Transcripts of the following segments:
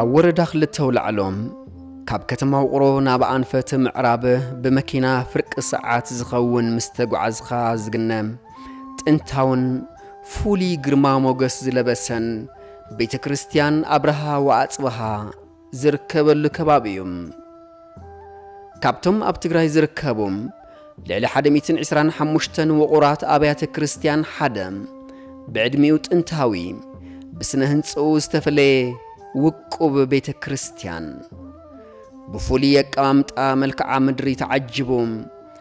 ኣብ ወረዳ ክልተ ውላዕሎም ካብ ከተማ ውቕሮ ናብ ኣንፈት ምዕራብ ብመኪና ፍርቂ ሰዓት ዝኸውን ምስ ተጓዓዝኻ ዝግነ ጥንታውን ፍሉይ ግርማ ሞገስ ዝለበሰን ቤተ ክርስቲያን ኣብርሃ ወኣጽብሃ ዝርከበሉ ከባቢ እዩ። ካብቶም ኣብ ትግራይ ዝርከቡ ልዕሊ ሓደ ሚእትን ዕስራን ሓሙሽተን ውቑራት ኣብያተ ክርስቲያን ሓደ ብዕድሚኡ ጥንታዊ ብስነ ህንጽኡ ዝተፈለየ ውቁብ ቤተ ክርስቲያን ብፍሉይ ኣቀማምጣ መልክዓ ምድሪ ተዓጅቡ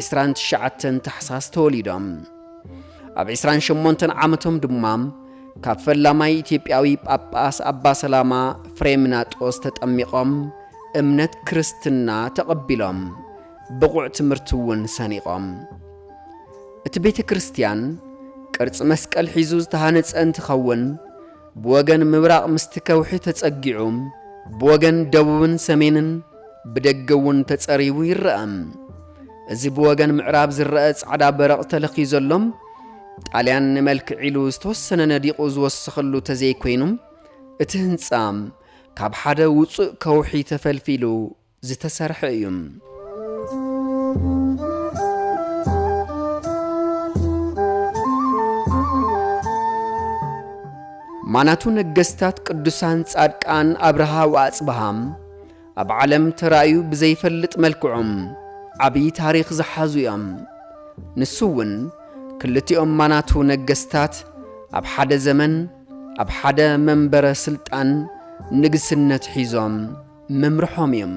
ዕስራን ትሽዓተን ታሕሳስ ተወሊዶም። ኣብ ዕስራን ሸሞንተን ዓመቶም ድማ ካብ ፈላማይ ኢትዮጵያዊ ጳጳስ ኣባ ሰላማ ፍሬምናጦስ ተጠሚቖም እምነት ክርስትና ተቐቢሎም ብቑዕ ትምህርቲ እውን ሰኒቖም። እቲ ቤተ ክርስቲያን ቅርጺ መስቀል ሒዙ ዝተሃነጸ እንትኸውን ብወገን ምብራቕ ምስቲ ከውሒ ተጸጊዑ፣ ብወገን ደቡብን ሰሜንን ብደገ እውን ተጸሪቡ ይረኣ። እዚ ብወገን ምዕራብ ዝረኣ ጻዕዳ በረቕ ተለኽዩ ዘሎ፣ ጣልያን ንመልክዕ ኢሉ ዝተወሰነ ነዲቑ ዝወሰኸሉ ተዘይኮይኑ፣ እቲ ህንጻ ካብ ሓደ ውጹእ ከውሒ ተፈልፊሉ ዝተሰርሐ እዩ። ማናቱ ነገስታት ቅዱሳን ጻድቃን ኣብርሃ ወኣጽብሃም ኣብ ዓለም ተራእዩ ብዘይፈልጥ መልክዖም ዓብዪ ታሪኽ ዝሓዙ እዮም። ንሱ እውን ክልቲኦም ማናቱ ነገስታት ኣብ ሓደ ዘመን ኣብ ሓደ መንበረ ስልጣን ንግስነት ሒዞም ምምርሖም እዩም።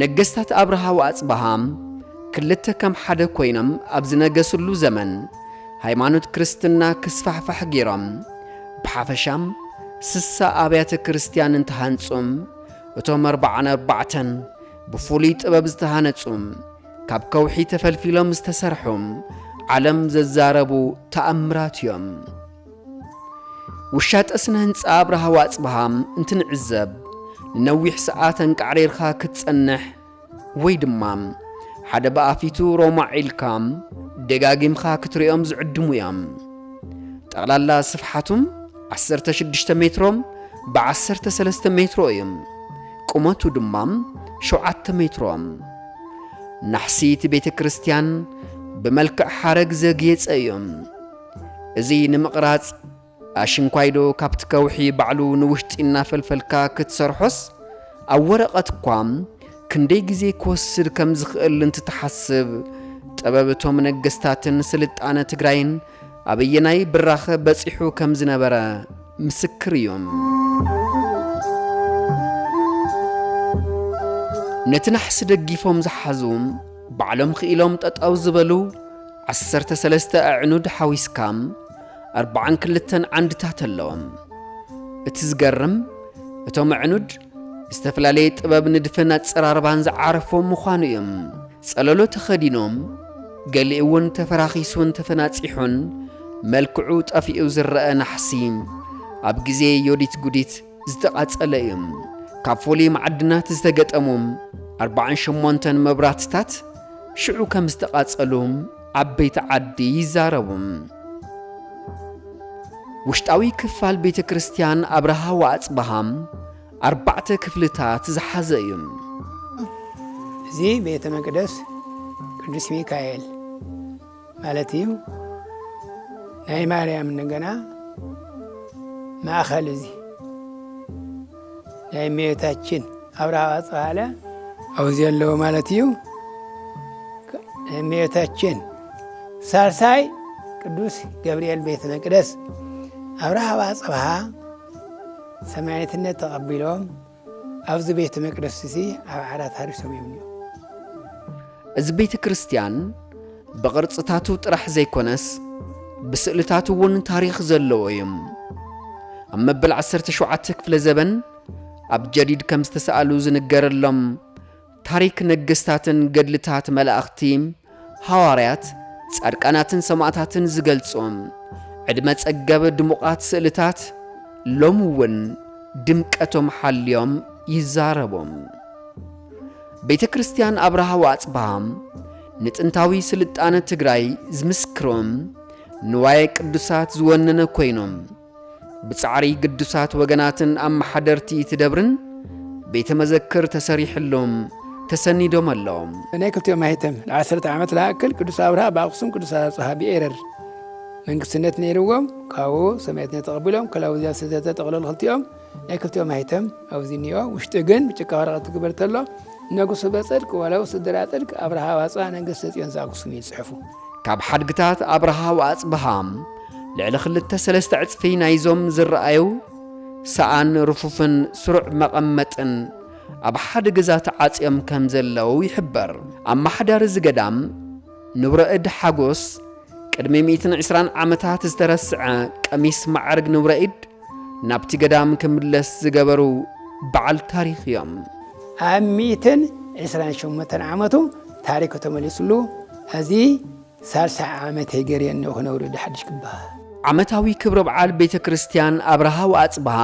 ነገስታት ኣብርሃ ወኣጽብሃ ክልተ ከም ሓደ ኮይኖም ኣብ ዝነገስሉ ዘመን ሃይማኖት ክርስትና ክስፋሕፋሕ ገይሮም። ብሓፈሻም ስሳ ኣብያተ ክርስትያን እንተሃንጹም እቶም ኣርብዓን ኣርባዕተን ብፍሉይ ጥበብ ዝተሃነጹም ካብ ከውሒ ተፈልፊሎም ዝተሰርሑም ዓለም ዘዛረቡ ተኣምራት እዮም። ውሻጠ ስነ-ህንጻ ኣብርሃ ዋጽብሃ እንትንዕዘብ፣ ንነዊሕ ሰዓት ኣንቃዕሪርካ ክትጸንሕ ወይ ድማ ሓደ ብኣፊቱ ሮማዕ ኢልካ ደጋጊምካ ክትሪኦም ዝዕድሙ እዮም። ጠቕላላ ስፍሓቱ ዓሰርተ ሽዱሽተ ሜትሮ ብዓሰርተ ሰለስተ ሜትሮ እዩ። ቁመቱ ድማ ሸውዓተ ሜትሮ። ናሕሲ እቲ ቤተ ክርስቲያን ብመልክዕ ሓረግ ዘግየጸ እዩ። እዚ ንምቕራጽ ኣሽንኳይዶ ካብቲ ከውሒ ባዕሉ ንውሽጢ እናፈልፈልካ ክትሰርሖስ ኣብ ወረቐት እኳ ክንደይ ግዜ ክወስድ ከም ዝኽእል እንትትሓስብ ጥበብ እቶም ነገስታትን ስልጣነ ትግራይን ኣበየናይ ብራኸ በጺሑ ከም ዝነበረ ምስክር እዮም። ነቲ ናሕሲ ደጊፎም ዝሓዙ ባዕሎም ክኢሎም ጠጠው ዝበሉ ዓሰርተ ሰለስተ ኣዕኑድ ሓዊስካ ኣርብዓን ክልተን ዓንድታት ኣለዎም። እቲ ዝገርም እቶም ኣዕኑድ ዝተፈላለየ ጥበብ ንድፍን ኣጸራርባን ዝዓረፎም ምዃኑ እዮም። ጸለሎ ተኸዲኖም ገሊኡውን ተፈራኺሱን ተፈናጺሑን መልክዑ ጠፊኡ ዝረኣ ናሕሲ ኣብ ግዜ ዮዲት ጉዲት ዝተቓፀለ እዩ። ካብ ፍሉይ መዓድናት ዝተገጠሙ ኣርባዓን ሸሞንተን መብራህትታት ሽዑ ከም ዝተቓፀሉ ዓበይቲ ዓዲ ይዛረቡ። ውሽጣዊ ክፋል ቤተ ክርስቲያን ኣብርሃ ወኣፅብሃ ኣርባዕተ ክፍልታት ዝሓዘ እዩ። እዚ ቤተ መቅደስ ቅዱስ ሚካኤል ማለት እዩ ናይ ማርያም እንደገና ማእኸል እዚ ናይ እመቤታችን ኣብርሃ ኣጽብሃለ ኣብዚ ኣለዎ ማለት እዩ። እመቤታችን ሳልሳይ ቅዱስ ገብርኤል ቤተ መቅደስ ኣብርሃ ኣጽብሃ ሰማዕትነት ተቐቢሎም ኣብዚ ቤተ መቅደስ እዚ ኣብ ዓራት ሃሪሶም እዮም እኒኦ። እዚ ቤተ ክርስቲያን ብቕርጽታቱ ጥራሕ ዘይኮነስ ብስእልታቱ እውን ታሪኽ ዘለዎ እዩ። ኣብ መበል ዓሰርተ ሸውዓተ ክፍለ ዘበን ኣብ ጀዲድ ከም ዝተሰኣሉ ዝንገረሎም ታሪክ ነገስታትን ገድልታት መላእኽቲ፣ ሃዋርያት፣ ጻድቃናትን ሰማእታትን ዝገልጹ ዕድመ ጸገብ ድሙቓት ስእልታት ሎሚ እውን ድምቀቶም ሓልዮም ይዛረቡ። ቤተ ክርስቲያን ኣብርሃ ወኣጽብሃ ንጥንታዊ ስልጣነ ትግራይ ዝምስክሩ ንዋየ ቅዱሳት ዝወነነ ኮይኑ፣ ብጻዕሪ ግዱሳት ወገናትን ኣመሓደርቲ እቲ ደብርን ቤተ መዘክር ተሰሪሕሎም ተሰኒዶም ኣሎም። ናይ ክልቲኦም ማኅተም ንዓሰርተ ዓመት ልኣክል ቅዱስ ኣብርሃ ብኣክሱም ቅዱስ ኣብጽሃ ብኤረር መንግስትነት ነይርዎም ካብኡ ሰማዕትነት ተቐቢሎም ክላውዝያ ስዘተ ጠቕለሉ ክልቲኦም ናይ ክልቲኦም ኣይተም ኣብዚ እኒኦ ውሽጢ ግን ብጭቃ ወረቐት ትግበር ተሎ ነጉሱ በፅድቅ ወለው ስድራ ፅድቅ ኣብርሃ ዋፅባ ነገስተ ፅዮን ዘኣጉሱም እዩ ዝፅሕፉ ካብ ሓድግታት ኣብርሃ ወኣፅብሃ ልዕሊ ክልተ ሰለስተ ዕፅፊ ናይዞም ዝረኣዩ ሰኣን ርፉፍን ስሩዕ መቐመጥን ኣብ ሓደ ገዛ ተዓፅዮም ከም ዘለዉ ይሕበር። ኣመሓዳሪ እዚ ገዳም ንብረ እድ ሓጎስ ቅድሚ 120 ዓመታት ዝተረስዐ ቀሚስ ማዕርግ ንብረ ኢድ ናብቲ ገዳም ክምለስ ዝገበሩ በዓል ታሪኽ እዮም። ኣብ ሚእትን ዕስራን ሸሞንተን ዓመቱ ታሪኩ ተመሊስሉ ኣዚ ሳልሳይ ዓመተይ ገርየ እነሆ ክነብር ወዲ ሓዱሽ ክበሃል። ዓመታዊ ክብረ በዓል ቤተ ክርስቲያን ኣብርሃ ወኣጽብሃ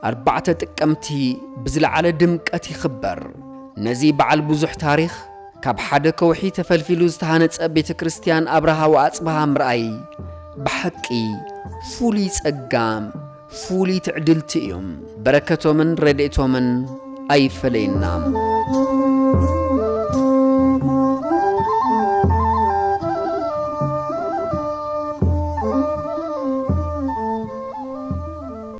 ኣርባዕተ ጥቅምቲ ብዝለዓለ ድምቀት ይኽበር። ነዚ በዓል ብዙሕ ታሪኽ ካብ ሓደ ከውሒ ተፈልፊሉ ዝተሃነጸ ቤተ ክርስቲያን ኣብርሃ ወኣጽብሃ ምርኣይ ብሓቂ ፍሉይ ጸጋም ፍሉይ ትዕድልቲ እዩ። በረከቶምን ረድኤቶምን ኣይፈለየና።